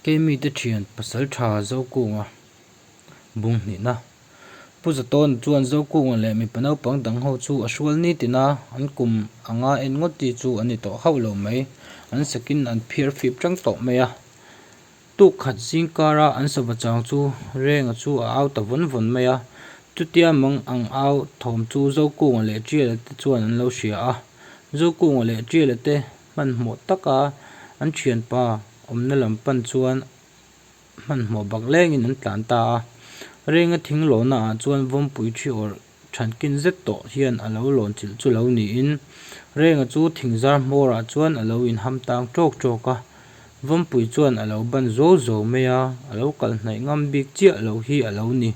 Kei mite thian pasal tha Zokunga bung hnihna. Pu Zatawn chuan Zokunga leh mipa naupang dang ho chu a hrual nitin a, an kum a nga en ngawt chi chu an ni tawh hauh lo mai. An sakin an phiar fip chang tawh mai a. Tuk khat zing kara an sava chang chu Renga chu a au ta vawn vawn mai a. Chutia mang ang au thawm chu Zokunga leh Tiala te chuan an lo hria a. Zokunga leh Tiala te Hmanhmawh taka an thianpa awmna lam pan chuan hmanhmawh baklengin an tlan ta a. Renga thing lawhnaah chuan vawmpui thi awrh thankin zet tawh hian a lo lawn chilh chu lo niin, Renga chu thing zar hmawrah chuan a lo inham tang tawk tawk a. Vawmpui chuan a lo ban zo zo mai a, a lo kal hnaih ngam bik chiah lo hi a lo ni.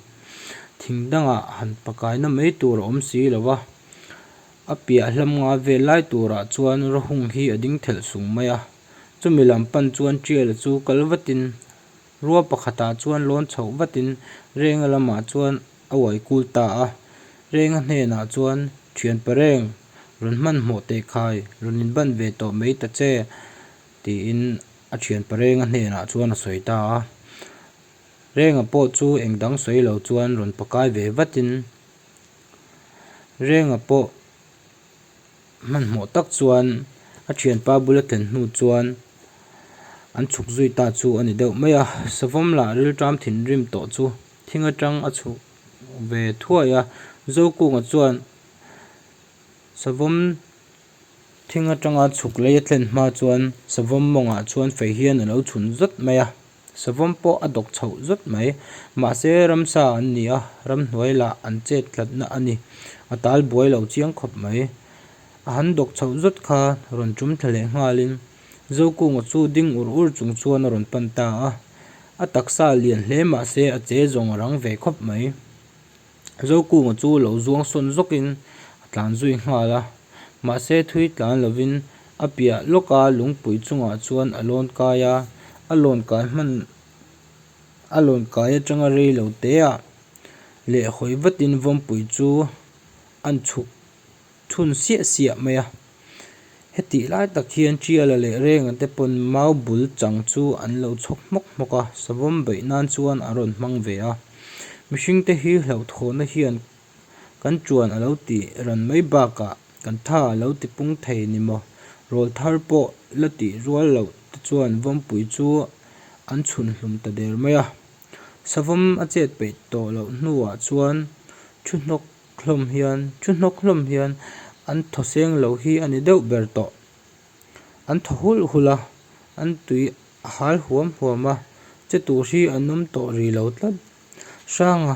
Thing dangah han pakaina mai tur a awm si lo va. A piah hlamnga vel lai turah chuan Rahung hi a ding thelh sung mai a, chumi lam pan chuan Tial chu kal vatin, rua pakhatah chuan lawn chhoh vatin Renga lamah chuan a uai kul ta a. Renga hnenah chuan, Thianpa Reng, rawn hman hmawh teh khai, rawn inban ve tawh mai ta che, tiin a Thianpa Renga hnenah chuan a sawi ta a. Renga pawh chu engdang sawi lo chuan rawn pakai ve vatin, Renga pawh hmanhmawh tak chuan a thianpa bula thlen hnu chuan an chhuk zui ta chu a ni deuh mai a. Savam lah rilṭam thinrim tawh chu thing aṭang a chhuk ve thuai a. Zokûngah chuan savam thing aṭanga chhuk lei a thlen hma chuan savam mawngah chuan fei hian a lo chhun zat mai a. Savawm pawh a dawk chhoh zawt mai. Mahse ramsa an ni a, ramhnuai lah an chet tlatna a ni. A tal buai lo chiang khawp mai. A han dawk chhoh zawt kha rawn tum thla leh nghalin Zokung-a chu ding ur ur chung chuan a rawn pan ta a. A taksa lian hle mahse a che zawng a rang ve khawp mai. Zokuma chu lo zuangsawn zawkin a tlan zui nghal a, mahse thui tlan lovin a piah lawka lungpui chungah chuan a lawn kai a, a lawn kai hman a lawn kai atanga rei lo teah leh hawi vatin vawnpui chu a chhuk. chhun siah siah mai a. Hetih lai tak hian tiala leh renga te pawn mau bul chang chu an lo chhawk hmawk hmawk a, savawm beih nan chuan a rawn hmang ve a. Mihring te hi hlauhthuahna hian kan ṭuan a lo ti ran mai bakah kan tha a lo ti pung thei ni maw? Rawl thar pawh la tih rual loh te chuan vawmpui chu an chhun hlum ta der mai a. Savawm a chet peih tawh loh hnuah chuan ṭhu hnawk hlawm hian, chu hnawk hlawm hian an thaw seng lo hi a ni deuh ber tawh. An thaw hulh hulh a, an tui a hal huam huam a, che tur hi an awm tawh ri lo tlat. Hranga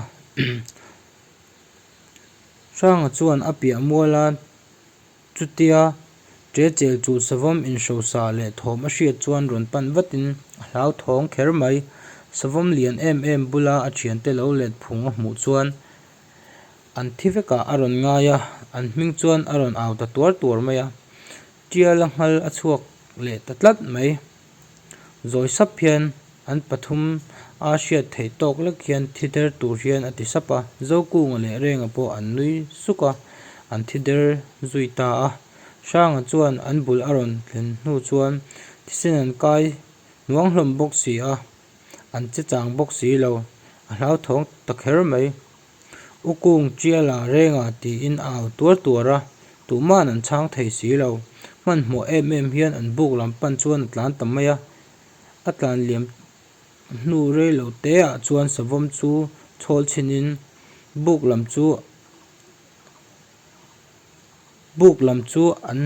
Hranga chuan a piah mual a, chutia che chel chul savam in hrosa leh thawm a hriat chuan rawn pan vatin a hlauthawng kher mai. Savam lian em em bula a thiante lo let phung a hmuh chuan. An thi vekah a rawn ngai a, an hming chuan a rawn au ta tuar tuar mai a, tial a nghal a chhuak leh ta tlat mai. Zawi sap hian an pathum a hriat theih tawk lek hian thi der tur hian a ti sap a, Zokunga leh Renga pawh an nui suk a, an thi der zui ta a. Hranga chuan an bul a rawn thlen hnu chuan thisen an kai nuang hlawm bawk si a. an che chang bawk si lo, a hlauthawng ta kher mai. U Kung Chiala rengah tiin a au tuar tuar a, Tuhman an chhang thei si lo, hmanhmawh em em hian an buk lam pan chuan a tlan ta mai a, a tlan liam hnu rei lo teah chuan savawm chu chhawl chhinin buk lam chu buk lam chu an.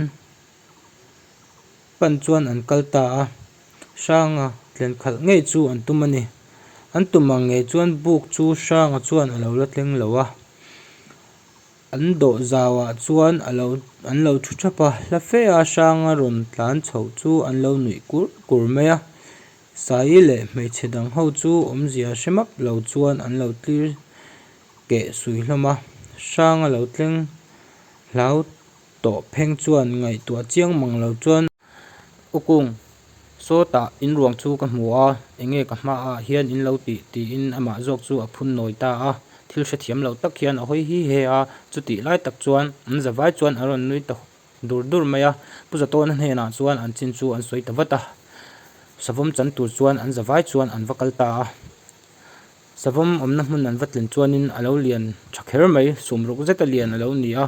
Pan chuan an kal ta a, Hranga tlen khalh ngei chu an tum a ni. An tum ang ngei chuan buk chu Hranga chuan a lo la tleng lo a. An dawh zau ah chuan a lo an lo thu thap a. Hla fe a Hranga rawn tlan chho chu an lo nuih kur kur mai a. Saii leh hmeichhe dang ho chu awmzia hre map lo chuan an lo tlir keh sui hlawm a. Hranga lo tleng hlau tawh pheng chuan ngaihtuah chiang mang lo chuan u kung sawtah in ruang chu ka hmu a, eng nge ka hma ah hian in lo tih tiin amah zawk chu a phun nawi ta a, thil hrethiam lo tak hian a hawi hi he a, chuti lai tak chuan an zavai chuan an rawn nui ta dur dur mai a, Pu Zatawna hnenah chuan an chin chu an sawi ta vat a, savawm chan tur chuan an zavai chuan an va kal ta a, savawm awmna hmun an va tlen chuan in a lo lian tha kher mai, sum ruk zet a lian a lo ni a.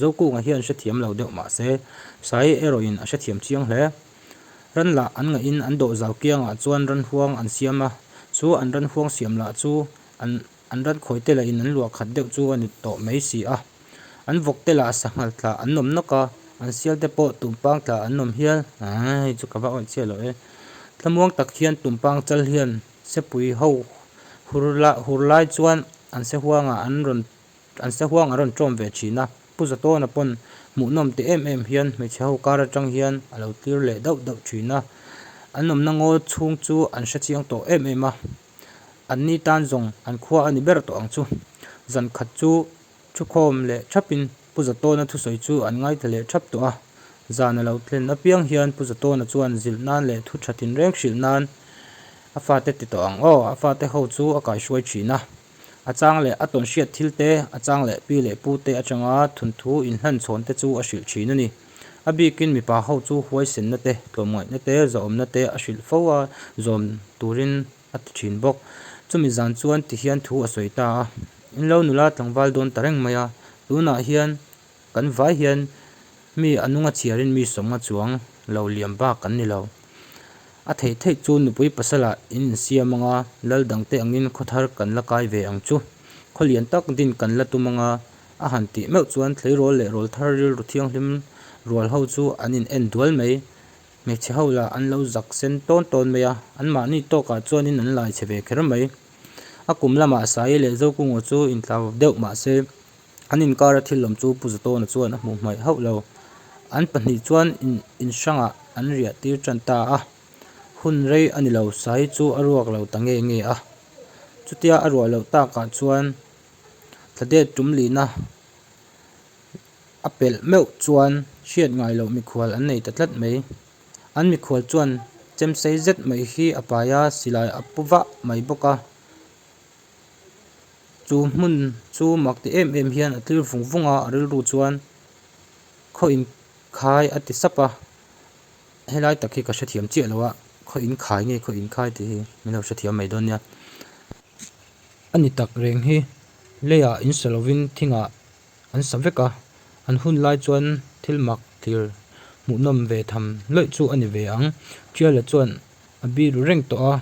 Zokukna hian hrethiam lo deuh mah se, Sai erawhin a hrethiam chiang hle. Ran lah an ngaih in an dawh zau kiang ah chuan ran huang an siam a, chu an ran huang siam lah chu an an ran khawi te lah in an luah khat deuh chu a ni tawh mai si a. An vawk te lah sa nghal tla an nawm nawk a, an sial te pawh tumpang tla an nawm hial. Aaa hei chu ka va awih chiah lo e. Thlamuang tak hian tumpang chal hian Sepui ho hur la hur lai chuan an se huang ah an rawn An sahuang a rawn ṭawm ve ṭhin a, Pu Zatawna pawn hmuhnawm teh em em hian hmeichhe ho kar aṭang hian a lo tlir leh dauh dauh ṭhin a, an awmna ngawl chhung chu an hrechiang tawh em em a, anni tan zawng an khua a ni ber tawh ang chu. Zan khat chu ṭhukhawm leh ṭhapin Pu Zatawna thusawi chu an ngaithla leh ṭhap tawh a, zan a lo thlen apiang hian Pu Zatawna chuan zilh nan leh thu ṭha thinreng hrilh nan a fate ti tawh ang aw, a fate ho chu a kaihruai ṭhin a. A chang leh a tawnhriat thil te, a chang leh pi leh pu te atanga thunthu inhlan chhawn te chu a hrilh thin a ni. A bikin mipa ho chu huaisenna te, tlawmngaihna te, zahawmna te a hrilh fo a, zawm turin a ti thin bawk. Chumi zan chuan ti hian thu a sawi ta a, In lo nula tlangval dawn ta reng mai a, tunah hian Kan vai hian mi a nunga chiarin mi sawmnga chuang lo liam bak an ni lo. A theih theih chu nupui pasala in insiam anga lal dangte angin khawthar kan la kai ve ang chu. Khawlian tak din kan la tum anga a han tih meuh chuan thleirawl leh rawlthar rilru thianghlim rual ho chu an in en dual mai. Hmeichhe ho lah an lo zak sen tawn tawn mai a, an mahni tawkah chuanin an laichhe ve kher mai. A kum lamah Sae leh Zokungaw chu intla vak deuh mahse, An inkara thil lawm chu Pu Zatawna chuan a hmuh hmaih hauh lo. An pahnih chuan inhrangah an riah tir tan ta a, hun rei a ni lo sai chu a ruak lo ta nge nge a. Chutia a ruah loh takah chuan Thladet tum lihna a pelh meuh chuan hriat ngai loh mikhual an nei ta tlat mai. An mikhual chuan chemsei zet mai hi a paia silai a pu vah mai bawk a. chu hmun chu mak ti em em hian a tlir vung vung a a rilru chuan khaw in khai a ti sap a helai tak hi ka hrethiam chiah lo a khaw in khai nge khaw in khai tih hi min lo hrethiam mai dawn nia a ni tak reng hi lei ah in sa lo in thing ah an sa vek a an hun lai chuan thil mak tlir hmuh nawm ve tham loih chu a ni ve ang tial ah chuan a biru reng tawh a.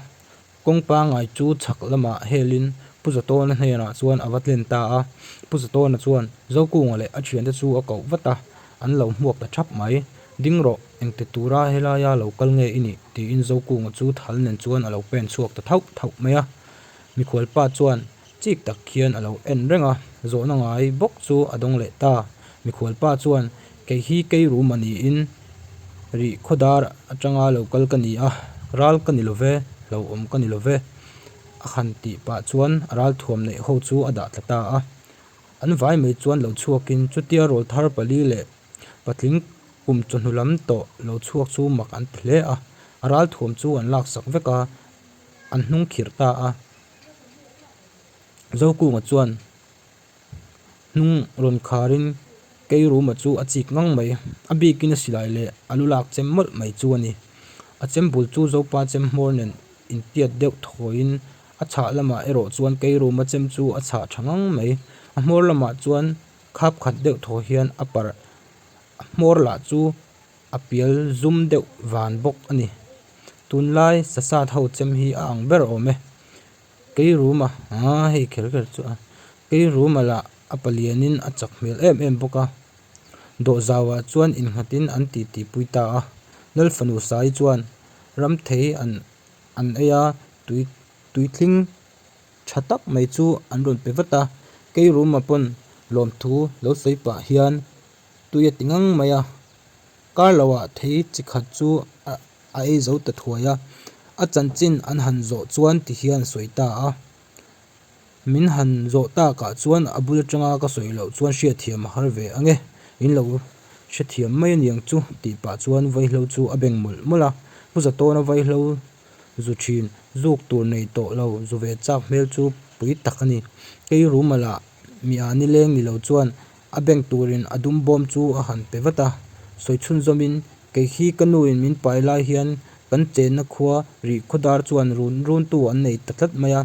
Kawng pangai chu chhak lamah helin Pu Zatawna hnenah chuan a va tlen ta a, Pu Zatawna chuan Zokunga leh a thiante chu a koh vat a, an lo hmuak ta thap mai. Ding rawh, engti tura helaia lo kal nge i nih? tiin Zokunga chu thal nen chuan a lo pen chhuak ta thauh thauh mai a. Mikhualpa chuan. Chik tak khian a lo en reng a, zawhna ngai bawk chu a dawng leh ta. Mikhualpa chuan, Kei hi kei ru mah niin rih khaw dar atanga lo kal ka ni a, ral ka ni lo ve, hlauhawm ka ni lo ve. A han tih pah chuan a ral thuam neih ho chu a dah tla ta a. An vai mai chuan lo chhuakin chutia rawl thar pali leh patling kum chawhnu lam tawh lo chhuak chu mak an ti hle a. A ral thuam chu an laksak vek a, an hnung khirh ta a, Zokung ah chuan hnung rawn khar in keirum ah chu a chik ngang mai a bik in a silai leh a lu lak chem mawlh mai chu a ni a chem bul chu zopa chem hmawr nen in piat deuh thawi in a chhah lam ah erawh chuan keirum a chem chu a chhah tha ngang mai a hmawr lam ah chuan khap khat deuh thaw hian a parh a hmawr lah chu-- A pial zum deuh van bawk a ni. Tunlai sasat ho chem hi a ang ber awm e. Kei ruma aaa hei kher kher chu a, kei ruma lah a palianin a chak hmel em em bawk a. Dawhzau ah chuan inghatin an tih tih pui ta a. Lalfanu sai chuan ramthei an an ei a, tui tui tling tha tak mai chu an rawn pe vat a. Kei ruma pawn lawmthu lo sawi pah hian. Tui a ti ngang mai a, Carlo-ah thei chi khat chu a ei zo ta thuai a, a chanchin an han zawh chuan ti hi an sawi ta a, min han zawh takah chuan a bul atanga ka sawi loh chuan hriatthiam a har ve ange, in lo hrethiam mai aniang chu tih pah chuan vaihlo chu a beng mawlh mawlh a, Pu Zatawna vaihlo zu thin zuk tur nei tawh lo zu ve chak hmel chu pui tak a ni, kei rumal ah Mi a ni leng ni lo chuan a beng turin a dum bawm chu a han pe vat a. Sawi chhunzawmin, Keikhi ka nuin min pai lai hian kan chenna khua rih khaw dar chuan run runtu an nei ta tlat mai a.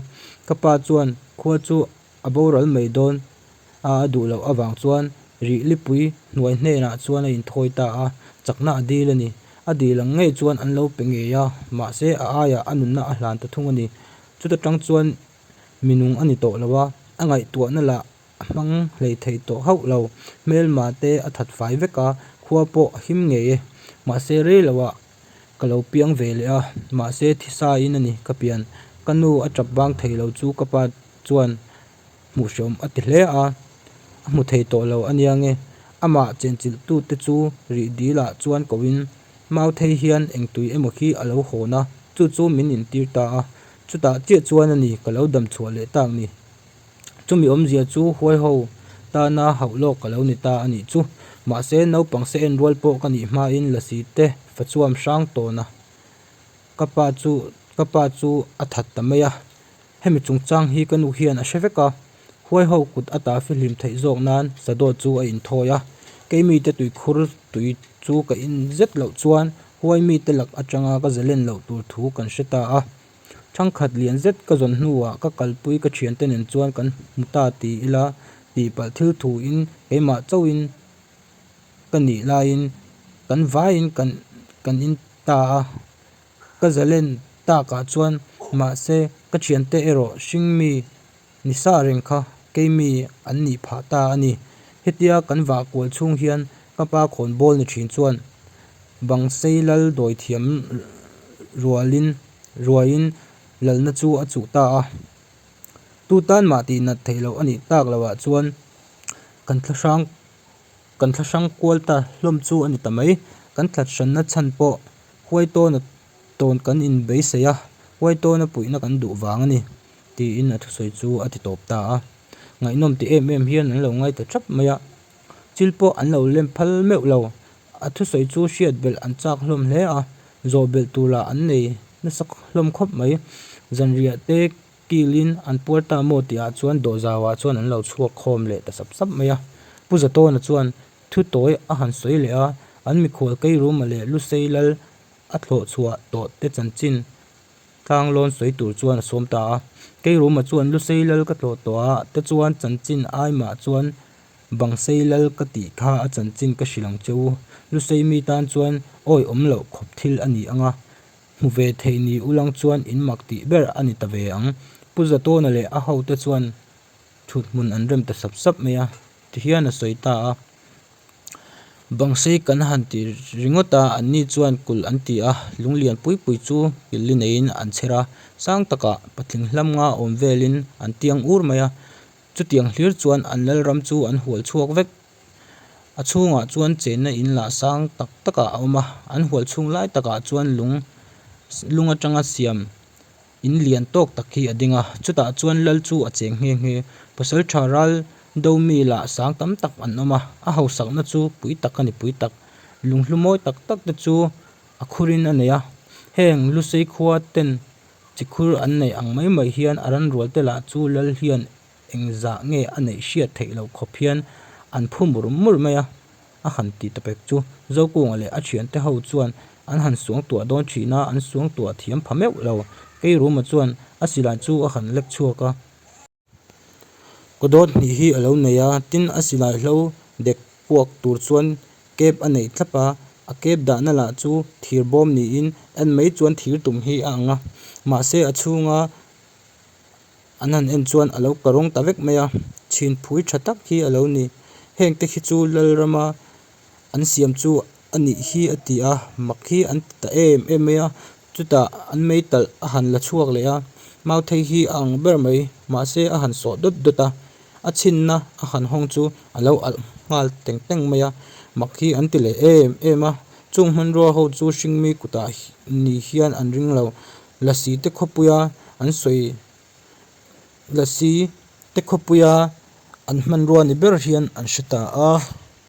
Ka pa chuan khua chu a boral mai dawn a a duh loh avang chuan rih lipui hnuai hnenah chuan a inthawi ta a, chakna a dil a ni. A dil ang ngei chuan an lo pe ngei a, mahse a aiah a nunna a hlan ta thung a ni. Chuta tang chuan minung a ni tawh lo a, a ngaihtuahna lah a hmang hlei theih tawh hauh lo. Hmelmate a that fai vek a, khua pawh a him ngei e. Mahse rei lo ah ka lo piang ve leh a, mahse thisain a ni ka pian. Ka nu a tap vang thei lo chu ka pa chuan hmuh hre awm a ti hle a, a hmu thei tawh lo a nia nge. Amah chenchilh tu te chu rih dil ah chuan ko in, Mauthei hian engtui emaw khi a lo hawn a, chu chu min intir ta a, Chutah chiah chuan a ni, ka lo damchhuah leh tak ni. Chumi awmzia chu huai ho tana hauh lawk ka lo ni ta a nih chu. Mahse, naupang se en rual pawh ka nih hmain la si te fa chuam hrang tawn a. Ka pa chu, ka pa chu a that ta mai a, hemi chungchang hi ka nu hian a hre vek a. Huai ho kut a ta fihlim theih zawk nan Sado chu a inthawi a, keimite tuikhur tui chu ka in zet loh chuan, Huai mite lak atanga ka zalen loh tur thu kan hre ta a, thangkhat lian zet ka zawn hnuah ka kalpui ka thiante nen chuan kan hmu ta ti ila tihpalh thil thu in keimah chauhin ka nih laiin kan vaiin kan kan in ta a, ka zalen takah chuan mahse ka thiante erawh hring mi Nisa reng kha keimi an nih phah ta a ni. Hetia kan vah kual chhung hian ka pa khawn bawl ni thin chuan bang sei lal dawi thiam rualin ruaiin lalna chu a chuh ta a. Tu tan mah tih nat theih loh a nih tak lo ah chuan kan thla hrang kan thla hrang kual ta hlawm chu a ni ta mai. Kan tlat hranna chhan pawh huaitawna tawn kan inbeisei a, huaitawna puihna kan duh vang a ni. tiin a thusawi chu a ti tawp ta a, ngaihnawm ti em em hian an lo ngai ta thap mai a, thil pawh an lo lem phal meuh lo, a thusawi chu hriat belh an chak hlawm hle a, zawhbelh turah an nei nasa hlawm khawp mai, zanriah te kilin an puar ta maw tih ah chuan dawhzau ah chuan an lo chhuak khawm leh ta sap sap mai a, Pu Zatawna chuan thutoy a han sawi leh a, an mikhual keirumal leh lu sei lal a thlawhchhuah tawh te chanchin Thlang lawn sawi tur chuan a sawm ta a, Keirum ah chuan lu sei lal ka tlawh tawh a, te chuan chanchin ai mah chuan bang sei lal ka tih kha a chanchin ka hrilh ang che u, lu sei mi tan chuan awi awm loh khawp thil a ni ang a, hmu ve thei ni u lang chuan in mak tih ber a ni ta ve ang. Pu Zatawna leh a ho te chuan thut hmun an rem ta sap sap mai a ti hian a sawi ta a, Bang sei kan han tih ringawt a, an ni chuan kulh an ti a, lung lian pui pui chu pilli neiin an chher a, sang takah patling hlam nga awm velin an tiang ur mai a, chutiang hlir chuan an lalram chu an hual chhuak vek, a chhungah chuan chenna in lah sang tak tak a awm a, an hual chhung lai takah chuan lung lung atanga siam. In lian tawk tak hi a ding a, chutah chuan lal chu a cheng nghe nghe. Pasal tha ral do mi lah sang tam tak an awm a, a hausakna chu pui tak a ni pui tak. Lunghlu mawi tak tak te chu a khurin a nei a, heng Lusei khua ten chi khur an neih ang mai mai hian a ranrual te lah chu lal hian engzah nge a neih hriat theih loh khawp hian an phu mur mur mai a. a han ti ta pek chu. Zokunga leh a thiante ho chuan an han suangtuah dawn thin a, an suangtuah thiam pha meuh lo. Keiruma chuan a silai chu a han lek chhuak a. Kawdawt hnih hi a lo nei a, tin a silai hlo dek puak tur chuan kep a neih tlap a. A kep dahna lah chu thir bawm niin en mai chuan thir tum hi a ang a. Mahse a chhunga an han en chuan a lo ka rawng ta vek mai a chhin phui tha tak hi a lo ni heng te khi chu lalrama an siam chu a nih hi a ti a mak hi an ti ta em em mai a chutah an meital a han la chhuak leh a mauthei hi a ang ber mai mahse a han sawh dawt dawt a a chhinna a han hawng chu a lo alh nghal teng teng mai a mak hi an ti leh em em a chung hmanrua ho chu hring mi kutah ni hian an ring lo. Lasi te khawpuia an sawi lasi te khawpuia an hmanrua ni ber hian an hre ta a.